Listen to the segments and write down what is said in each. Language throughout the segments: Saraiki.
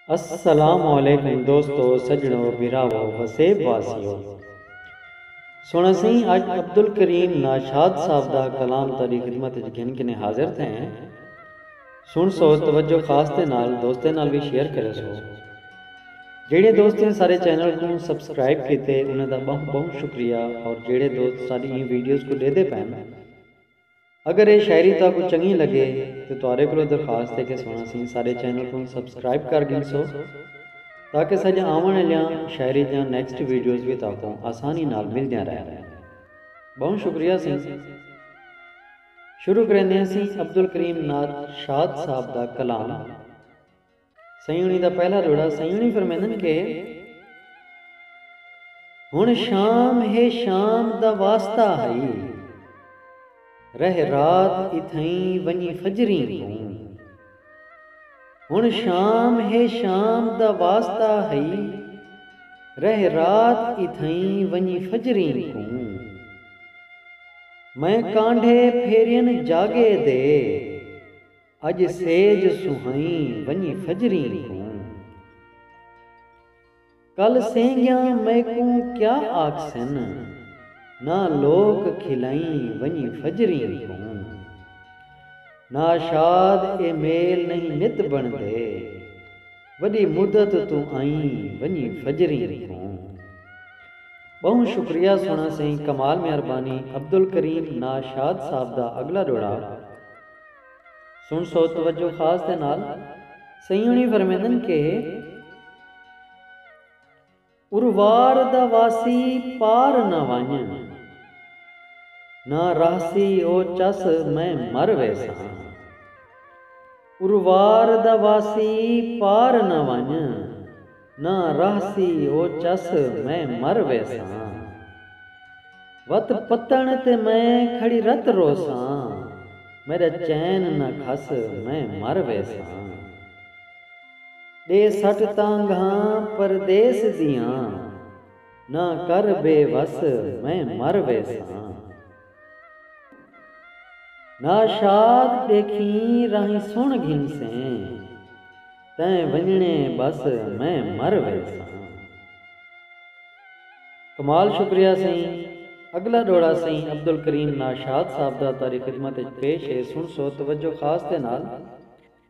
السلام علیکم دوستو سجنڑو بھراوو وسیب واسیو سنڑ اسیں اج عبدالکریم ناشاد صاحب دا کلام تہاڈی خدمت اچ گھن کنیں حاضر تھئے ہیں سنڑسو توجہ خاص دے نال دوستیں نال وی شیئر کریسو جیڑھے دوست ایں سارے چینل کوں سبسکرائب کیتے انہاں دا بہوں بہوں شکریہ اور جیڑھے دوست ساڈی ایں ویڈیوز کوں ڈیدھے پئن اگر اے شاعری تہاکوں چنگی لگے تاں تہاڈے کولوں درخواست اے کہ سنڑ اسیں ساڈے چینل کوں سبسکرائب کر گھنسو تاکہ ساڈیاں آونڑ آلیاں شاعری دیاں نیکسٹ ویڈیوز وی تہاکوں آسانی نال ملدیاں رہن۔ بہوں شکریہ اسیں شروع کریندے ہاں اسیں عبدالکریم نعت شاد صاحب دا کلام۔ سیوݨی دا پہلا جوڑا سیوݨی فرمیندن کہ ہݨ شام ہے شام دا واسطہ ہئی رہ رات اتھئیں ونڄی فجریں کوں ہݨ شام ہے شام دا واسطہ ہئی رہ رات اتھئیں ونڄی فجریں کوں میں کانڈھے پھیرین جاڳے دے۔ اڄ سیج سوہئیں ونڄ فجریں کوں۔ کل سینگیاں میکوں کیا آکھسن۔ نہ لوک کھلئیں ونڄ فجریں کوں۔ ناشاد اے میل نئیں نت بݨدے۔ وݙی مدت توں آئیں ونڄ فجریں کوں۔ ٻہوں شکریہ سوہݨا سئیں کمال میاں ربانی عبدالکریم ناشاد صاحب دا اڳلا ݙوہڑا۔ سن سو توجہ خاص دے نال سئیں ہوݨی فرمیندن کہ اروار دا واسی پار نہ ونڄ نہ رہسی او چس میں مر ویساں اروار دا واسی پار نہ ونڄ۔ نہ رہسی او چس میں مر ویساں۔ وت پتݨ تے میں کھڑی رت روساں۔ میݙا چین نہ کھس میں مر ویساں۔ ݙے سٹ تاں گھاں پردیس دیاں۔ نہ کر بے وس میں مر ویساں۔ ناں شاد ݙیکھیں راہیں سݨ گھنسیں تیں ونڄݨے ٻس میں مر ویساں۔ کمال شکریہ سئیں اڳلا ݙوہڑا سئیں عبدالکریم ناشاد صاحب دا تاری خدمت اچ پیش ہے سݨسو توجہ خاص دے نال۔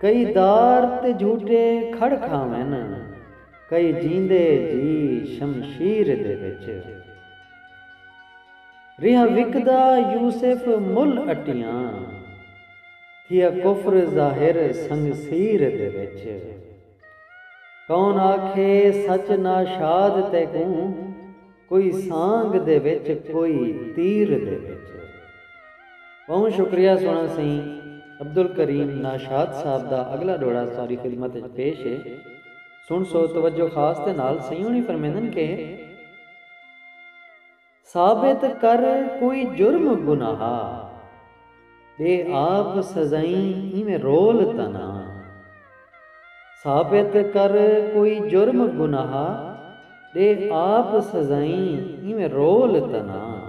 کئی دار تے جھوٹے کھڑ کھاون کئی جیندے جی شمشیر دے وچ ریہا وکدا یوسف مل اٹیاں تھیا کفر ظاہر سنگسیر دے وچ۔ کون آکھے سچ ناشاد تیکوں کوئی سانگ دے وچ کوئی تیر دے وچ۔ ٻہوں شکریہ سوہݨا سئیں عبدالکریم ناشاد صاحب دا اڳلا ݙوہڑا تہاݙی خدمت وچ پیش ہے سݨسو توجہ خاص دے نال سئیں ہوݨی فرمیندن کہ۔ ثابت کر کوئی جرم گناہ۔ ݙے آپ سزائیں ایویں رول تاں نہ۔ ثابت کر کوئی جرم گناہ۔ ݙے آپ سزائیں ایویں رول تاں نہ۔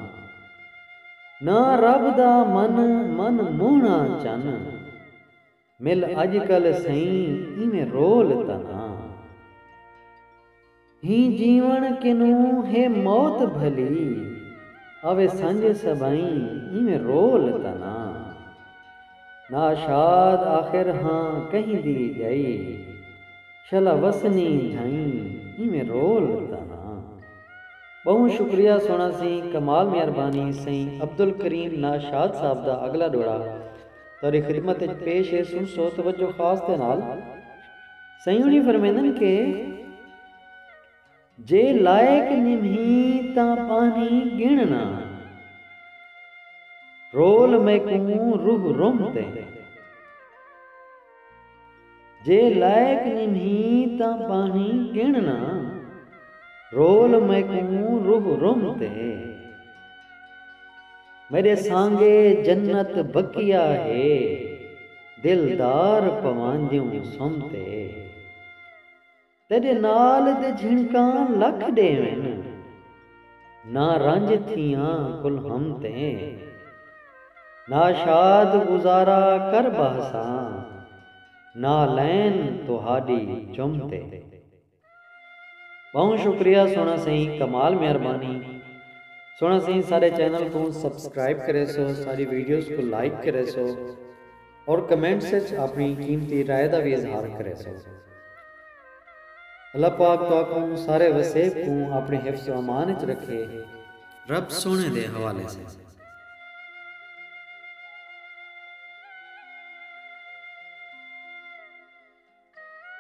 ناں رب دا من من موہݨا چن۔ مل اڄ کل سئیں ایویں رول تاں نہ ہی جیوݨ کنوں ہے موت بھلی آوے سنڄ سبئیں ایویں رول تاں نہ ناشاد آخر ہاں کہیں دی ڄائی شلا وسنی جھئیں ایویں رول تاں نہ۔ ٻہوں شکریہ سوہݨا سئیں کمال مہربانی سئیں عبدالکریم ناشاد صاحب دا اڳلا ݙوہڑا تہاݙی خدمت اچ پیش ہے سنسو توجہ خاص دے نال۔ سئیوݨی فرمیندن کہ جے لائق نمہیں تاں ٻانہہ ڳݨ نہ رول میکوں روح رم تیں۔ جے لائق نمہیں تاں ٻانہیں ڳݨ نہ رول میکوں روح رم تے میݙے سانگے جنت بقیہ ہے دلدار پواندیوں سم تے۔ تیݙے نال دے جھنکاں لکھ ݙیون نہ رنج تھیاں کل ہم تیں نہ شاد گزارا کر ٻہساں نالین تہاݙی چم تے۔ ٻہوں شکریہ سوہݨا سئیں کمال مہربانی سوہݨا سئیں ساݙے چینل کوں سبسکرائب کریسو ساݙی ویڈیوز کوں لائک کریسو۔ اور کمنٹس اچ آپنی قیمتی رائے دا وی اظہار کریسو۔ اللہ پاک تہاکوں سارے وسیب کوں آپنے حفظ و امان اچ رکھے۔ رب سوہنے دے حوالے سئیں۔